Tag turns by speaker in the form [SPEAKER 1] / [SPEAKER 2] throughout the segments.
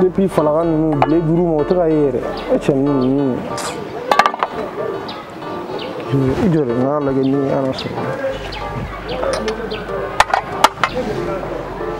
[SPEAKER 1] depuis falaka ninnu bile duuru ma o tɛ ka ye yɛrɛ e cɛ ninnu ninnu i jɔ dɛ n k'a lajɛ ni a na sɔrɔ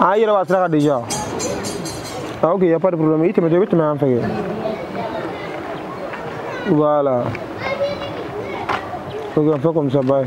[SPEAKER 1] a yɛrɛ b'a sira kan déjà ah ok y a pas de problème i tɛmɛtɔ i bɛ tɛmɛ yan fɛ kɛ voilà ok on fait comme ça bye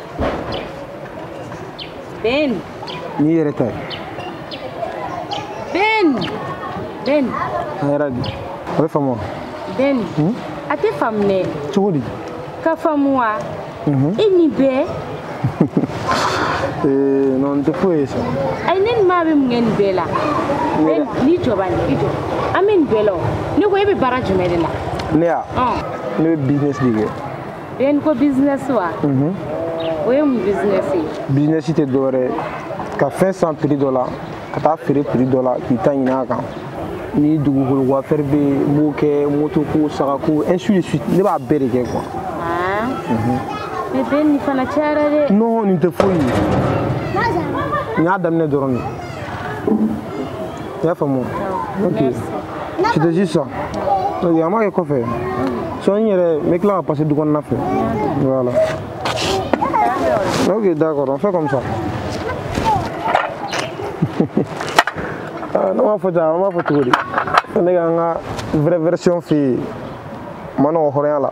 [SPEAKER 2] Ben.
[SPEAKER 1] N'i yɛrɛ ta ye.
[SPEAKER 2] Ben. Ben. A yɛrɛ
[SPEAKER 1] di. A bɛ faamu wa? Ben. Hmm?
[SPEAKER 2] A tɛ faamu dɛ. Cogo di?
[SPEAKER 1] Ka faamu wa?
[SPEAKER 2] Mhm. E nin
[SPEAKER 1] bɛɛ. Ee, non, nin tɛ foyi ye sa. Ayi, ne ni maa
[SPEAKER 2] bɛ mun kɛ nin bɛɛ la? Ben, n'i jɔ bani, i jɔ. An bɛ nin bɛɛ la o. Ne ko e bɛ baara jumɛn de la? Ne wa?
[SPEAKER 1] Ɔn. Ne bɛ business de kɛ. Ben
[SPEAKER 2] ko business wa mhm. o ye mun business ye business tɛ
[SPEAKER 1] dɔwɛrɛ ye ka fɛn san prix dɔ la ka taa feere prix dɔ la k'i ta ɲini a kan ni dugukolo ko affaire bɛ yen n b'o kɛ moto ko saga ko ainsi de suite ne b'a bɛɛ de kɛ quoi ah.
[SPEAKER 2] mhm. mais Ben nin fana cayara dɛ non nin tɛ foyi ye
[SPEAKER 1] n y'a daminɛ dɔrɔn de i y'a faamu ok c'était juste ça ok an b'a kɛ kɔfɛ sɔn n yɛrɛ n bɛ tila ka passer du kɔnɔna fɛ voilà ok d'accord on fait comme ça ne m'a fɔ ten an b'a fɔ cogo di ne ka n ka vraie version f'i ye ma nɔgɔ hɔrɔnya la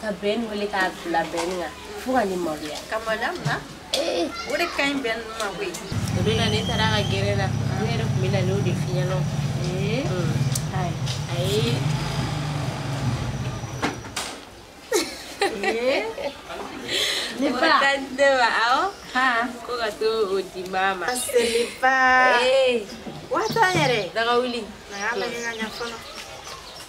[SPEAKER 2] ka Ben wele k'a bila Ben kan fo ka ne maloya ka
[SPEAKER 3] maloya mun na o de ka ɲi bɛn ninnu ma koyi o de la ne taara
[SPEAKER 2] ka gɛrɛ la ne yɛrɛ tun bɛ na n'o de f'i ɲɛna ayi
[SPEAKER 3] ne ba ka di ne ma
[SPEAKER 2] awɔ ko ka taa o di maa ma seliba
[SPEAKER 3] waati yɛrɛ daga wuli na y'a
[SPEAKER 2] lajɛ ka ɲɛ
[SPEAKER 3] fɔlɔ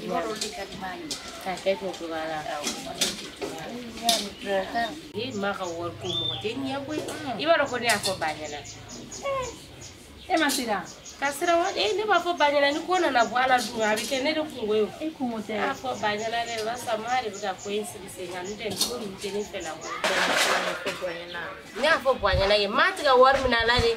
[SPEAKER 2] E maa ka wari ko mɔgɔ tɛ ɲɛ koyi i b'a dɔn ko ne y'a fɔ ba ɲɛna
[SPEAKER 3] e ma siran ka siran wa e
[SPEAKER 2] ne b'a fɔ ba ɲɛna ni ko nana bɔ a la dun a bɛ kɛ ne de kunko ye o e kunko tɛ ne y'a
[SPEAKER 3] fɔ ba ɲɛna
[SPEAKER 2] dɛ barisa maa de bɛ ka ko in sigi sen kan n'o tɛ nin ko ninnu tɛ ne fɛ la koyi ne y'a fɔ ba ɲɛna ye maa tɛ ka wari minɛ a la dɛ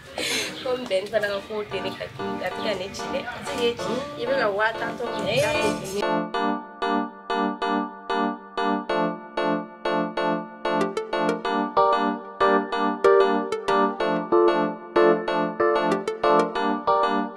[SPEAKER 2] comme Ben fana ka kow tɛ ne ka kɛ a tɛ ka ne ci dɛ a tɛ k'e ci i
[SPEAKER 3] bɛ ka waa tan tɔ minɛ i ka ne ci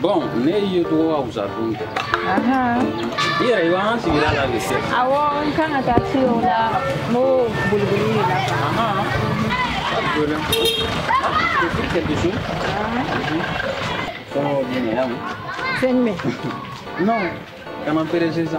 [SPEAKER 4] Bon ne ye
[SPEAKER 5] tɔgɔ ka wusa dun kɛ
[SPEAKER 4] i yɛrɛ i
[SPEAKER 5] b'an sigira la de se awɔ n kan ka
[SPEAKER 4] taa se o la n b'o boliboli de
[SPEAKER 5] la Fɛn jumɛn?
[SPEAKER 4] Non,
[SPEAKER 5] kana perese sa.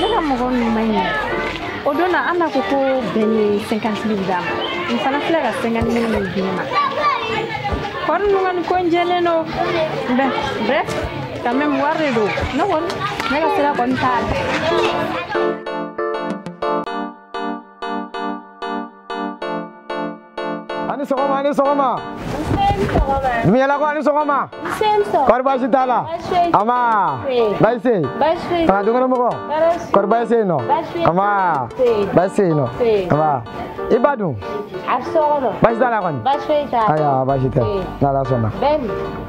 [SPEAKER 4] ne ka mɔgɔ ninnu ma ɲɛ o don na an na ko ko Ben ye cinquante mille d'a ma n fana filɛ ka cinquante mille di ne ma kɔri ninnu kan ko n jɛlen don bɛ bref quand même wari de don ne kɔni ne ka sira kɔni t'a la
[SPEAKER 1] a ni sɔgɔma a ni sɔgɔma dumuyalakaw a ni sɔgɔma kɔri baasi t'a la a ma baasi se yen aa dukɔnɔmɔgɔ kɔri baasi se yen nɔ a ma baasi se yen nɔ a ma i ba
[SPEAKER 2] dun baasi t'a la kɔni
[SPEAKER 1] ayiwa
[SPEAKER 2] baasi tɛ
[SPEAKER 1] n'ala sɔnna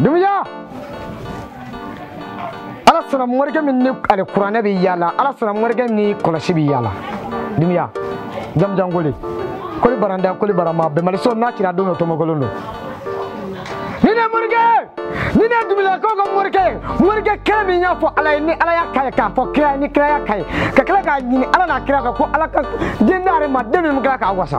[SPEAKER 1] dumuya ala sɔnna morikɛ min ni ale kuranɛ bɛ yaala ala sɔnna morikɛ min ni kɔlɔsi bɛ yaala dumuya jamajan koli koli baranda koli barama bɛnbaliso n'a cira don dɔ tomokolon don ni ne morikɛ ni ne dumuyalakaw ka morikɛ morikɛ kelen min y'a fɔ ala ye ni ala y'a k'a ye k'a fɔ kira ye ni kira y'a k'a ye ka tila k'a ɲini ala n'a kira kan ko ala ka den d'ale ma den min kila k'a wasa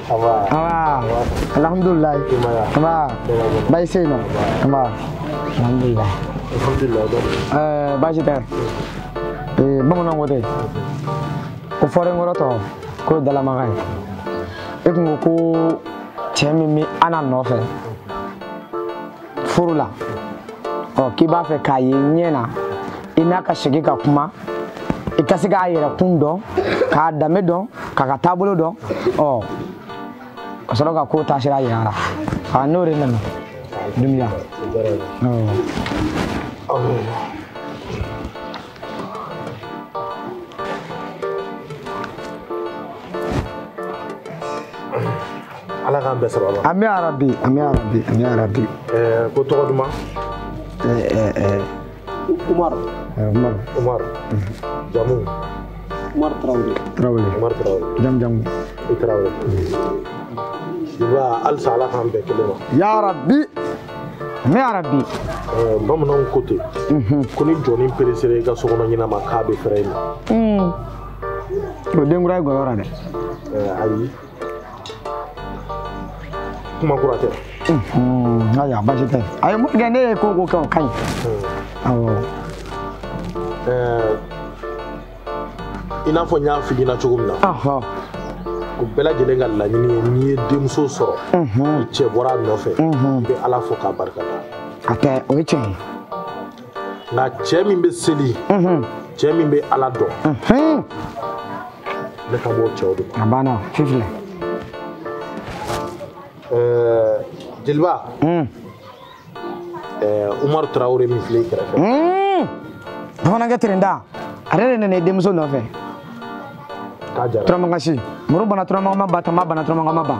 [SPEAKER 1] alhamdulilayi baasi tɛ yen nɔ alhamdulilayi ɛɛ baasi tɛ ee bamananw ko dɛ ko fɔrenkɔrɔ tɔ k'o ye dalamaga ye e tun ko ko cɛ min bɛ ana nɔfɛ furu la ɔ k'i b'a fɛ k'a ye ɲɛ na i n'a ka sigi ka kuma i ka se k'a yɛrɛ kun dɔn k'a danbe dɔn k'a ka taabolo dɔn ɔ ka sɔrɔ ka ko taasira yira la aa n'o de nana dumiya
[SPEAKER 6] ala k'an bɛɛ sababa amiina yarabi amiina
[SPEAKER 1] yarabi amiina yarabi ko
[SPEAKER 6] tɔgɔ duman umaru umaru umaru jamu
[SPEAKER 1] umaru tarawele tarawele umaru tarawele jamu jamu i tarawele
[SPEAKER 6] i b'a halisa ala k'an bɛn kelen ma yarabi
[SPEAKER 1] ami yarabi
[SPEAKER 6] bamananw ko ten mhm. ko ni jɔni peresera i ka sokɔnɔ ɲɛnama k'a bɛ feere i ma hmm.
[SPEAKER 1] o den kura ye gɔyɔ ra dɛ ayi
[SPEAKER 6] kuma kura tɛ mhm.
[SPEAKER 1] ayiwa basi tɛ a ye mun kɛ ne ye ko ko kɛ o ka ɲi hmm. awɔ
[SPEAKER 6] i n'a fɔ n y'a f'i ɲɛna cogo min na u bɛɛ lajɛlen ka laɲini ye n'i ye denmuso sɔrɔ ni cɛ bɔra a nɔfɛ i bɛ ala fo k'a barika da hatɛ o ye
[SPEAKER 1] tiɲɛ ye
[SPEAKER 6] nka cɛ min bɛ seli cɛ min bɛ ala dɔn ne kan b'o cɛw de ma a banna fifilɛ jeliba ɛɛ eh, umaru tarawele min filɛ i kɛrɛfɛ. Hmm.
[SPEAKER 1] bamanankɛ terenda ale de nana i denmuso nɔfɛ.
[SPEAKER 6] k'a jara turamagan si muru banna
[SPEAKER 1] turamagan ma ba tama banna turamagan ma ba.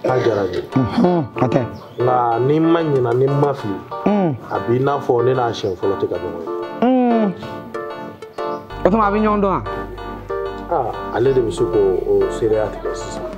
[SPEAKER 1] k'a jara
[SPEAKER 6] ye. Hmm, hatɛ.
[SPEAKER 1] nka ni n
[SPEAKER 6] ma ɲinɛ ni n ma fili. Hmm. a b'i n'a fɔ ne n'a siɲɛ fɔlɔ tɛ ka ɲɔgɔn
[SPEAKER 1] ye. o tuma a bɛ ɲɔgɔn dɔn wa. aa ah,
[SPEAKER 6] ale de bɛ se k'o seereya tigɛ sisan.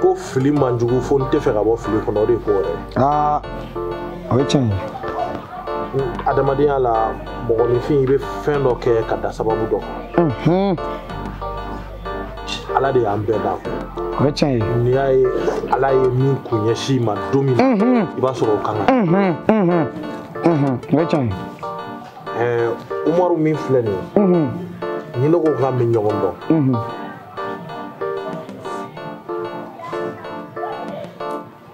[SPEAKER 1] ko
[SPEAKER 6] fili man jugu fo n tɛ fɛ ka bɔ fili kɔnɔ o de ko yɛrɛ aa
[SPEAKER 1] o ye tiɲɛ ye
[SPEAKER 6] adamadenya la mɔgɔninfin i bɛ fɛn dɔ kɛ ka da sababu dɔ kan ala de y'an bɛɛ da o ye tiɲɛ ye
[SPEAKER 1] n'i y'a ye ala
[SPEAKER 6] ye min kun ɲɛsin ma don min na i b'a sɔrɔ o kan ka
[SPEAKER 1] o ye tiɲɛ ye
[SPEAKER 6] umaru min filɛ nin ye ni ne ko k'an bɛ ɲɔgɔn dɔn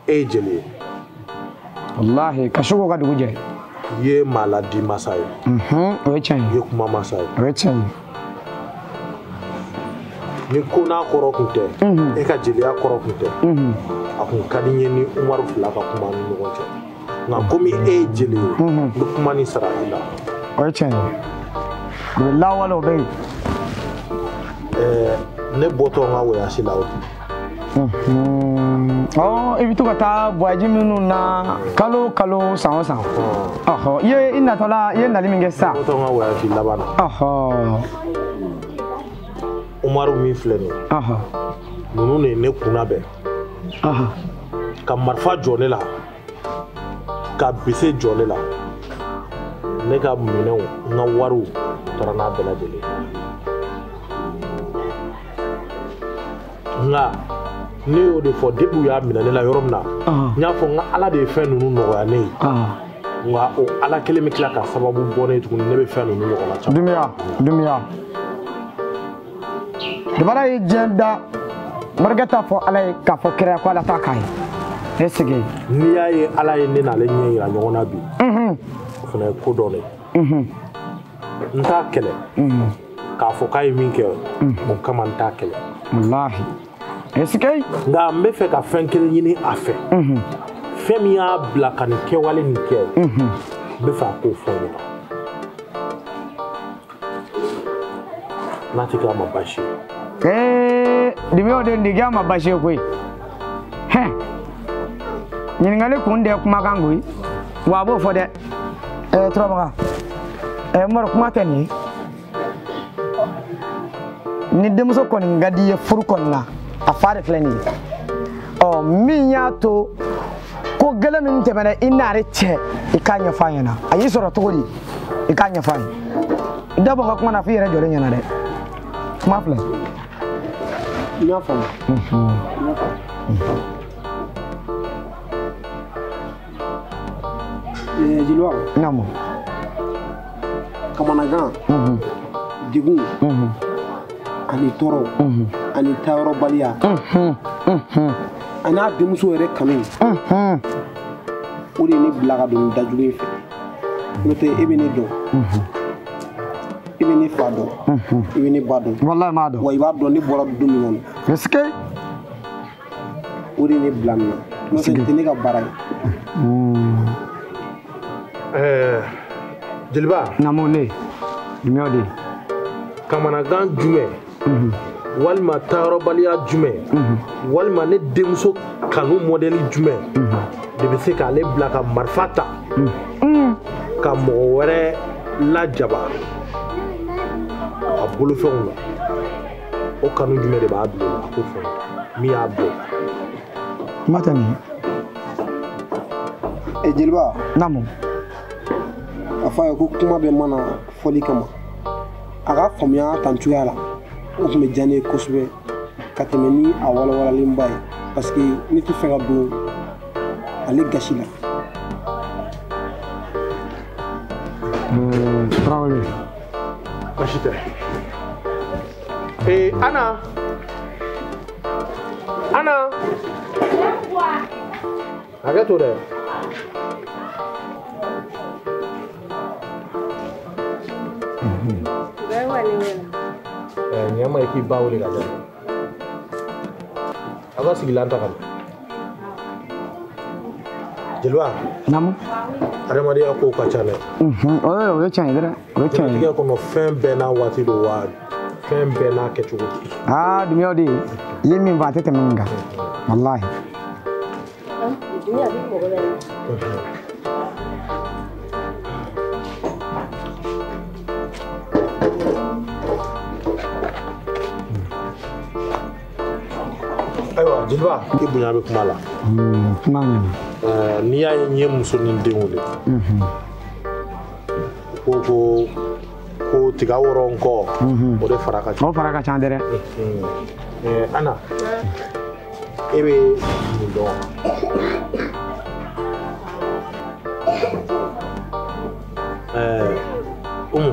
[SPEAKER 6] e ye jeli
[SPEAKER 1] ye walahi ka su ko ka dugu jɛ i ye
[SPEAKER 6] maa laadi masa ye mhm, o ye tiɲɛ ye
[SPEAKER 1] i ye kuma masa ye
[SPEAKER 6] o ye tiɲɛ ye ni ko n'a kɔrɔ kun tɛ mhm. e ka jeliya kɔrɔ kun tɛ mhm. a kun ka di n ye n ni umaru fila ka kuma an ni ɲɔgɔn cɛ nka komi e ye jeli ye n bɛ kuma nin sara i la o
[SPEAKER 1] ye tiɲɛ ye o ye lawale o bɛ
[SPEAKER 6] yen ne bɔtɔ n ka wɔyasi la o
[SPEAKER 1] i bɛ to ka taa wɔyasi minnu na kalo o kalo san o san i ye i natɔla i ye nali min kɛ sisan n bɔtɔ n ka
[SPEAKER 6] wɔyasi laban na umaru min filɛ nin ye ninnu de ye ne kunna bɛn ka marifa jɔ ne la ka bese jɔ ne la ne ka minɛnw n ka wariw taara n'a bɛɛ lajɛlen nka ne y'o de fɔ depi u y'a minɛ ne la yɔrɔ min na n y'a fɔ n k'ala de ye fɛn ninnu nɔgɔya ne ye nka o ala kelen bɛ tila ka sababu bɔ ne ye tuguni ne bɛ fɛn ninnu ɲɔgɔnna caman duniya duniya
[SPEAKER 1] dabaga ye diɲɛ da morikɛ t'a fɔ ala ye k'a fɔ kira ko ala t'a k'a ye esike n'i y'a ye ala
[SPEAKER 6] ye ne n'ale ɲɛ yira ɲɔgɔn na bi o fana ye ko dɔ de n t'a kɛlɛ k'a fɔ k'a ye min kɛ o kama n t'a kɛlɛ
[SPEAKER 1] walahi esike nka n bɛ
[SPEAKER 6] fɛ ka fɛn kelen ɲini a fɛ fɛn min y'a bila ka nin kɛwale nin kɛ n bɛ fɛ a k'o fɔ n ɲɛna n'a tɛ k'a ma baasi ye
[SPEAKER 1] dimi o de tɛ k'a ma baasi koyi hɛ ɲininkali kun de ye kumakan ko ye wa a b'o fɔ dɛ ɛɛ turamagan ɛɛ umaru kuma tɛ nin ye ni denmuso kɔni ka di i ye furu kɔni na a fa de filɛ nin ye ɔ min y'a to ko gɛlɛn min tɛmɛna i n'ale cɛ i k'a ɲɛfɔ a ɲɛna a y'i sɔrɔ cogo di i k'a ɲɛfɔ a ye i da bɔ n ka kuma na f'i yɛrɛ jɔlen ɲɛna dɛ kuma filɛ
[SPEAKER 7] n y'a faamu jeliba naamu kamanagan degun ani tɔɔrɔ ani taayɔrɔbaliya an'a denmuso yɛrɛ kanu o de ye ne bila ka don da jugu in fɛ n'o tɛ e bɛ ne dɔn i bɛ ne fa dɔn i bɛ ne ba dɔn walayi n b'a dɔn wa i b'a dɔn
[SPEAKER 1] ne bɔra du
[SPEAKER 7] min kɔnɔ est-ce que o de ye ne bila nin na n'o tɛ nin tɛ ne ka baara
[SPEAKER 6] ye jeliba naamu ne
[SPEAKER 1] jumɛn de kamanagan
[SPEAKER 6] jumɛn walima taayɔrɔbaliya jumɛn walima ne denmuso kanu mɔdɛli jumɛn de bɛ se k'ale bila ka marifa ta ka mɔgɔ wɛrɛ lajaba a bolofɛnw na o kanu jumɛn de b'a bila o la a k'o fɔ min y'a bɔ
[SPEAKER 1] kuma tɛ nin ye eh, jeliba naamu
[SPEAKER 7] a fɔ a ye ko kuma bɛɛ ma na fɔli kama a k'a faamuya tan cogoya la o tun bɛ diya ne ye kosɛbɛ ka tɛmɛ ni a walawalalenba ye parce que ne tɛ fɛ ka don ale gasi la
[SPEAKER 6] Tarawele. Baasi tɛ. Ee Ana. Ana. hakɛ to dɛ ɲɛ ma i k'i ba wele ka dɛ aw ka sigilan ta ka na jeliba naamu
[SPEAKER 1] adamadenya
[SPEAKER 6] kow ka ca dɛ o ye tiɲɛ
[SPEAKER 1] ye dɛrɛ diɲɛlatigɛ kɔnɔ fɛn bɛɛ
[SPEAKER 6] n'a waati don wa fɛn bɛɛ n'a kɛcogo aa dumbuya
[SPEAKER 1] den i ye min fɔ a tɛ tɛmɛ nin kan walahi
[SPEAKER 6] ayiwa jeliba i bonya bɛ kuma la kuma ɲɛna
[SPEAKER 8] n'i y'a ye
[SPEAKER 6] n ye muso ni den wele ko ko ko tiga wɔrɔ n kɔ o de fara ka ca o fara ka ca dɛ ana e bɛ nin dɔn umu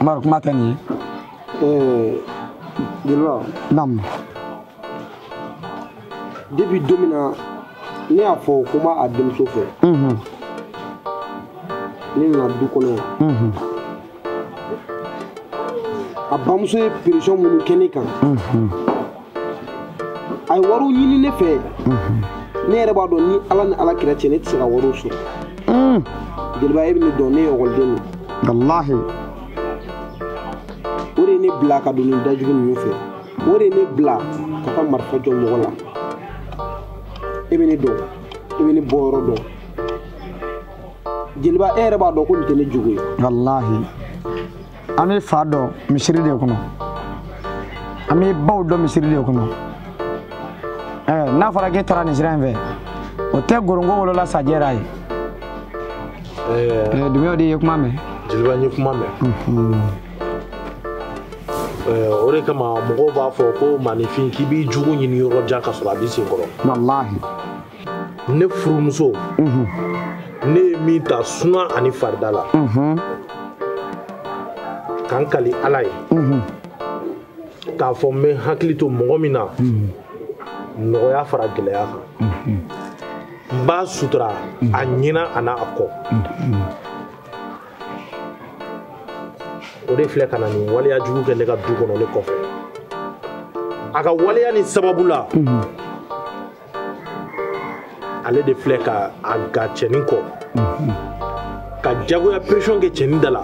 [SPEAKER 8] Umaru kuma tɛ nin ye
[SPEAKER 7] jeliba naamu depuis don min na ne y'a fɔ ko n b'a a denmuso fɛ Mhm, ne nana du kɔnɔ yan mhm, a bamuso ye pression minnu kɛ ne kan mhm. a ye wariw ɲini ne fɛ ne yɛrɛ b'a dɔn ni ala ni ala kira cɛ ne tɛ se ka wariw sɔrɔ hmm. jeliba e bɛ ne dɔn ne ye ekɔliden de walahi o de ye ne bila ka don nin da jugu ninnu fɛ o de ye ne bila ka taa marifa jɔ mɔgɔ la e bɛ ne dɔn e bɛ ne bɔ yɔrɔ dɔn jeliba e yɛrɛ b'a dɔn ko nin tɛ ne jogo ye walahi
[SPEAKER 8] an b'e fa dɔn misiri de kɔnɔ an b'e baw dɔn misiri de kɔnɔ ɛɛ n'a fɔra k'e taara nin sira in fɛ o tɛ ngɔrɔngɔ wolola sajɛra ye ɛɛ dumbuya den ye kuma mɛn jeliba n ye kuma
[SPEAKER 6] mɛn o de kama mɔgɔw b'a fɔ ko maaninfin k'i b'i jugu ɲini yɔrɔ jan ka sɔrɔ a b'i sen kɔrɔ walahi ne furumuso ne ye min ta suna ani farida la ka n kali ala ye k'a fɔ n bɛ n hakili to mɔgɔ min na nɔgɔya fara gɛlɛya kan n b'a sutura a ɲɛ na an'a kɔ o de filɛ ka na nin waleya jugu kɛ ne ka du kɔnɔ ne kɔfɛ a ka waleya nin sababu la ale de filɛ ka a gan cɛnin kɔ ka jagoya pression kɛ cɛnin da la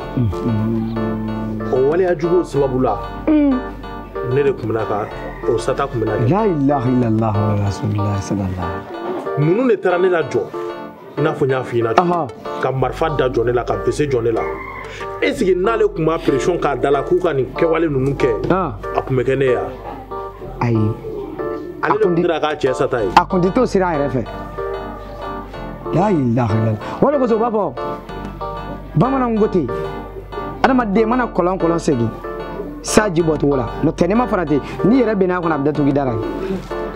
[SPEAKER 6] o waleya juguw sababu la ne de tun bɛna ka o sata tun bɛna kɛ la ilaha illallah
[SPEAKER 8] rasulillah sallallahu ninnu de
[SPEAKER 6] taara ne lajɔ i n'a fɔ n y'a f'i ɲɛna cogo ka marifa da jɔ ne la ka bese jɔ ne la est ce que n'ale tun ma pression k'a da la k'u ka nin kɛwale ninnu kɛ a tun bɛ kɛ ne ye wa ayi
[SPEAKER 8] ale
[SPEAKER 6] de tun dira k'a cɛ sata ye a tun tɛ to sira a yɛrɛ
[SPEAKER 8] fɛ la ilaha illallah o de kosɔn u b'a fɔ bamananw ko ten adamaden mana kɔlɔn kɔlɔn segin sa ji bɔcogo la n'o tɛ n'i ma farati n'i yɛrɛ binn'a kɔnɔ a bɛ datugu i dara ye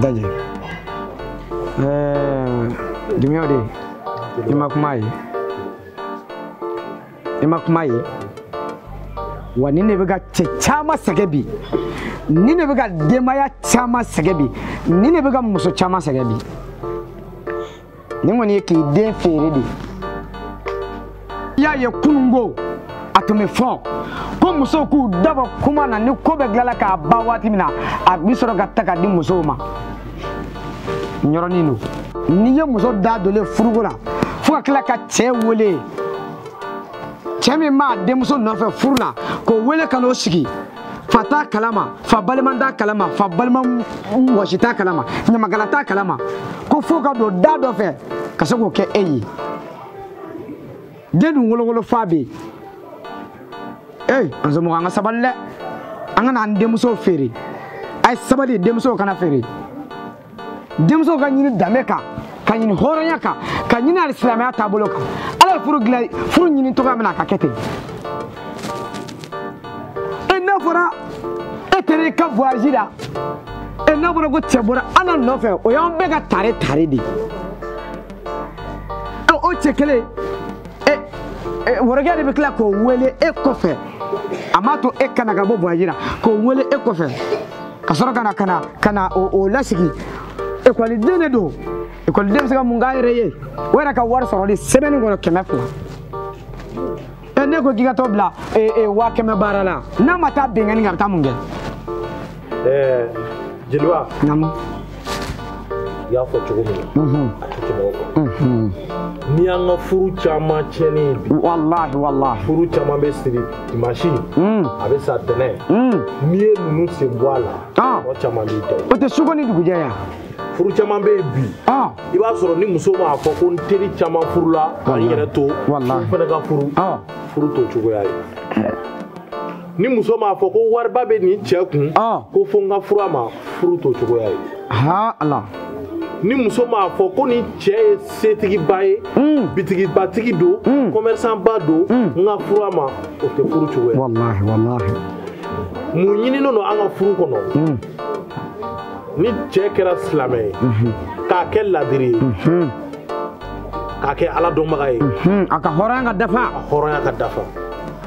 [SPEAKER 8] Daji. Ɛɛ Dunbiya de i ma kuma ye i ma kuma ye wa nin de bɛ ka cɛ caman sɛgɛn bi nin de bɛ ka denbaya caman sɛgɛn bi nin de bɛ ka muso caman sɛgɛn bi. nin kɔni ye k'i den feere de i y'a ye kununko a tun bɛ fɔ ko musow k'u dabɔ kuma na ni ko bɛɛ dilanna k'a ban waati min na a bɛ sɔrɔ ka ta ka di musow ma yɔrɔnin don n'i ye muso da donlen furuko la fo ka tila ka cɛ wele cɛ min b'a denmuso nɔfɛ furu la k'o wele ka n'o sigi fa t'a kalama fa balima t'a kalama fa balimaw si t'a kalama ɲamakala t'a kalama ko fo ka don da dɔ fɛ ka se k'o kɛ e ye den dun wolo wolofa bɛ yen ee an somɔgɔ an ka sabali dɛ an kana an denmusow feere a ye sabali denmusow kana feere denmuso ka ɲini danbe kan ka ɲini hɔrɔnya kan ka ɲini alisilamɛya taabolo kan ala ye furu dilan furu ɲini cogoya min na a ka kɛ ten e n'a fɔra e taara i ka voyage la e n'a fɔra ko cɛ bɔra Ana nɔfɛ o y'an bɛɛ ka tare tare de ye o cɛ kelen wɔrɔkɛ de bɛ tila k'o wele e kɔfɛ a m'a to e ka na ka bɔ voyage la k'o wele e kɔfɛ ka sɔrɔ ka na ka na ka na o lasigi ekɔliden de don ekɔliden bɛ se ka mun k'a yɛrɛ ye o yɛrɛ ka wari sɔrɔli semaine kɔnɔ kɛmɛ fila ɛ ne ko k'i ka t'o bila waa kɛmɛ baara la n'a ma taa binkanni kɛ a bɛ taa mun kɛ. ɛɛ
[SPEAKER 6] jeliba. naamu. i y'a fɔ cogo min na a tɛ tɛmɛ o kan n'i y'an ka furu caman tiɲɛni ye bi walahi walahi furu
[SPEAKER 8] caman bɛ
[SPEAKER 6] siri dimansi a bɛ sa tɛnɛn n'i ye ninnu sen bɔ a la o caman b'i da o tɛ suko ni dugujɛ
[SPEAKER 8] yan furu caman
[SPEAKER 6] bɛ yen bi i b'a sɔrɔ ni muso m'a fɔ ko n teri caman furula ka n yɛrɛ to fo n fana ka furu furu t'o cogoya ye ni muso m'a fɔ ko wariba bɛ nin cɛ kun ah. ko fo n ka furu a ma furu t'o cogoya ye ha
[SPEAKER 8] ala
[SPEAKER 6] ni muso m'a fɔ ko nin cɛ ye setigiba ye hmm. bitigibatigi don kɔmɛrisanba hmm. don hmm. n ka furu a ma o tɛ furu cogoya walahi walahi mun ɲininen don an ka furu kɔnɔ ni cɛ kɛra silamɛ ye mhm. k'a kɛ ladiri ye mhm. k'a kɛ ala dɔnbaga ye mhm. a ka hɔrɔnya ka
[SPEAKER 8] dafa a hɔrɔnya ka dafa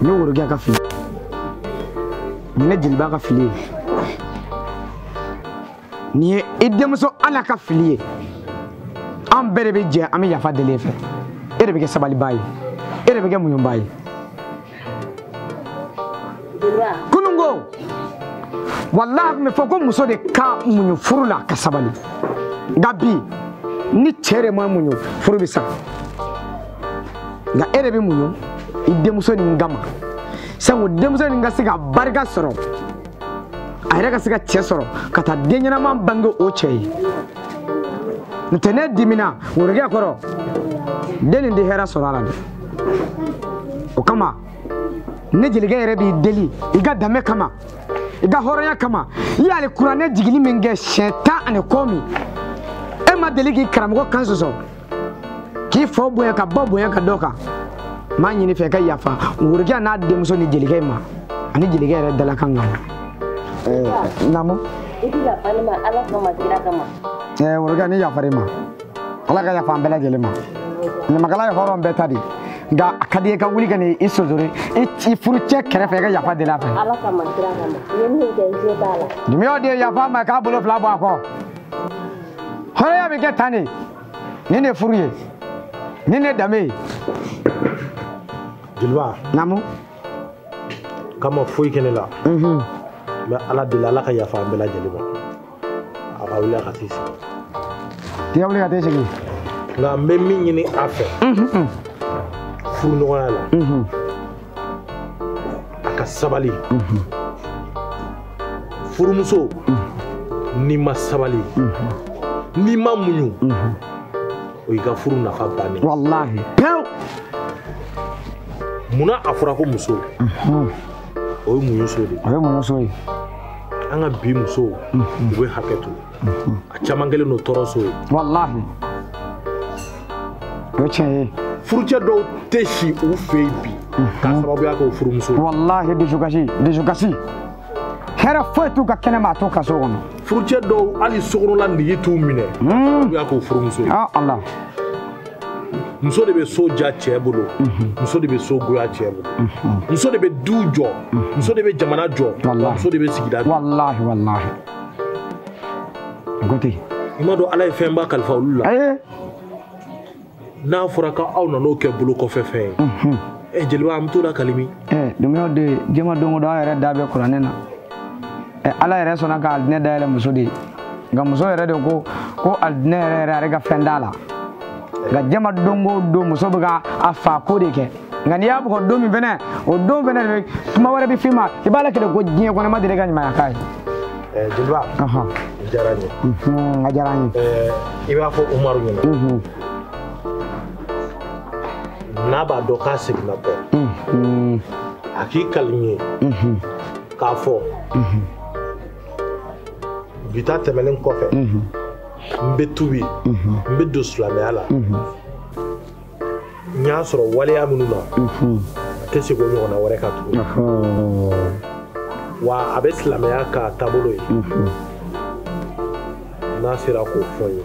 [SPEAKER 8] n ye worokɛ ka fili nin ye jeliba ka fili ye nin ye i denmuso fana ka fili ye an bɛɛ de bɛ jɛ an bɛ yafa deli e fɛ e de bɛ kɛ sabalibaa ye e de bɛ kɛ muɲubaa ye kununko walahi a tun bɛ fɔ ko muso de ka muɲu furu la ka sabali nka bi ni cɛ de ma muɲu furu bɛ sa nka e de bɛ muɲu i denmuso nin kama sanko denmuso nin ka se ka barika sɔrɔ a yɛrɛ ka se ka cɛ sɔrɔ ka taa den ɲɛnama bange o cɛ ye n'o tɛ ne dimina worokɛ kɔrɔ den nin tɛ hɛrɛ sɔrɔ a la dɛ o kama ne jelikɛ yɛrɛ b'i deli i ka danbe kama i ka hɔrɔnya kama i y'alikuranɛ jigili min kɛ siɲɛ tan ani kɔmi e ma deli k'i karamɔgɔ kan sɔsɔ k'i faw bonya ka ba bonya ka d'o kan n b'a ɲini i fɛ ka yafa worokɛ n'a denmuso ni jelikɛ in ma ani jelikɛ yɛrɛ dalakan kama namu
[SPEAKER 9] worokɛ ne
[SPEAKER 8] yafar'i ma ala ka yafa an bɛɛ lajɛlen ma ɲamakala ye hɔrɔn bɛɛ ta de nka a ka di n ye i ka wuli ka n'i sonsori i furucɛ kɛrɛfɛ i ka yafa deli a fɛ
[SPEAKER 9] dimiyaw de ye yafa n ma
[SPEAKER 8] k'a bolo fila bɔ a kɔ hɔrɔnya bɛ kɛ tan de nin de furu ye nin de danbe
[SPEAKER 6] ye jeliba namu k'a ma foyi kɛ ne la n bɛ ala deli ala ka yafa an bɛɛ lajɛlen ma a ka wuli a ka t'i
[SPEAKER 8] sigi i ka wuli ka t'i sigi nka n bɛ
[SPEAKER 6] min ɲini a fɛ furuɲɔgɔnya la a ka sabali furumuso n'i ma sabali n'i ma muɲu o y'i ka furu nafa bannen walahi pewu munna a fɔra ko muso o ye muɲuso de ye o ye muɲuso ye
[SPEAKER 8] an ka bi
[SPEAKER 6] musow u bɛ hakɛ to a caman kɛlen don tɔɔrɔ so ye
[SPEAKER 8] walahi o ye tiɲɛ ye furucɛ dɔw
[SPEAKER 6] tɛ si u fɛ yen bi k'a mhm. sababuya kɛ o furumuso ye walahi dusukasi
[SPEAKER 8] dusukasi hɛrɛ foyi t'u ka kɛnɛ ma a t'u ka so kɔnɔ furucɛ dɔw
[SPEAKER 6] hali sokɔnɔla nege t'u minɛ k'a mhm. sababuya k'o furumuso ye ah, ala muso de bɛ so diya cɛ bolo mhm. muso de bɛ so goya cɛ bolo muso de bɛ du jɔ muso de bɛ jamana jɔ muso de bɛ sigida jɔ
[SPEAKER 8] Gote. I ma dɔn Ala
[SPEAKER 6] ye fɛnba kalifa olu la. Ayi. N'a fɔra k'aw nan'o kɛ bolo kɔfɛ fɛn ye. Unhun. Ɛ eh, jeliba an bɛ t'o lakali min. Ɛ eh, dɔnkɛw de ye
[SPEAKER 8] jɛma don o don an yɛrɛ da bɛ kuranɛ na. Ɛ eh, Ala yɛrɛ sɔnna ka alijinɛ dayɛlɛ muso de ye. Nka muso yɛrɛ de ko ko alijinɛ yɛrɛ yɛrɛ ale ka fɛn t'a la. Nka jɛma don o don muso bɛ ka a fa ko de kɛ. nka n'i y'a bugɔ don min fɛnɛ o don fɛnɛ de kuma wɛrɛ bɛ f'i ma i b'a lakali ko diɲɛ kɔnɔ ma deli ka ɲumanya k'a ye eh,
[SPEAKER 6] jeliba i diyara n ye mhm, a diyara n ye eh,
[SPEAKER 8] i b'a fɔ umaru
[SPEAKER 6] ɲɛna mhm. n'a b'a dɔn k'a seginna kɔ mhm. a k'i kali n ye k'a fɔ bi ta tɛmɛnen kɔfɛ n bɛ tubi n bɛ don silamɛya la n y'a sɔrɔ waleya minnu na a tɛ segin o ɲɔgɔnna wɛrɛ kan tuguni wa a bɛ silamɛya k'a taabolo ye n'a sera k'o fɔ n ye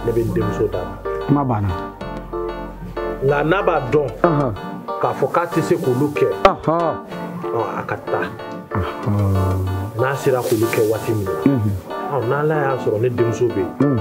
[SPEAKER 6] ne bɛ n denmuso d'a ma kuma banna nka n'a b'a dɔn k'a fɔ k'a tɛ se k'olu kɛ a ka taa n'a sera k'olu kɛ waati min na n'ala y'a sɔrɔ ne denmuso bɛ yen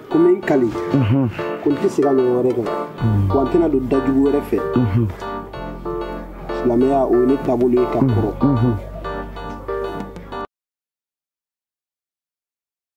[SPEAKER 8] ko n bɛ
[SPEAKER 7] n kali ko n tɛ segin a ɲɔgɔn wɛrɛ kan wa n tɛna don dajugu wɛrɛ fɛ silamɛya o ye ne taabolo ye ka kɔrɔ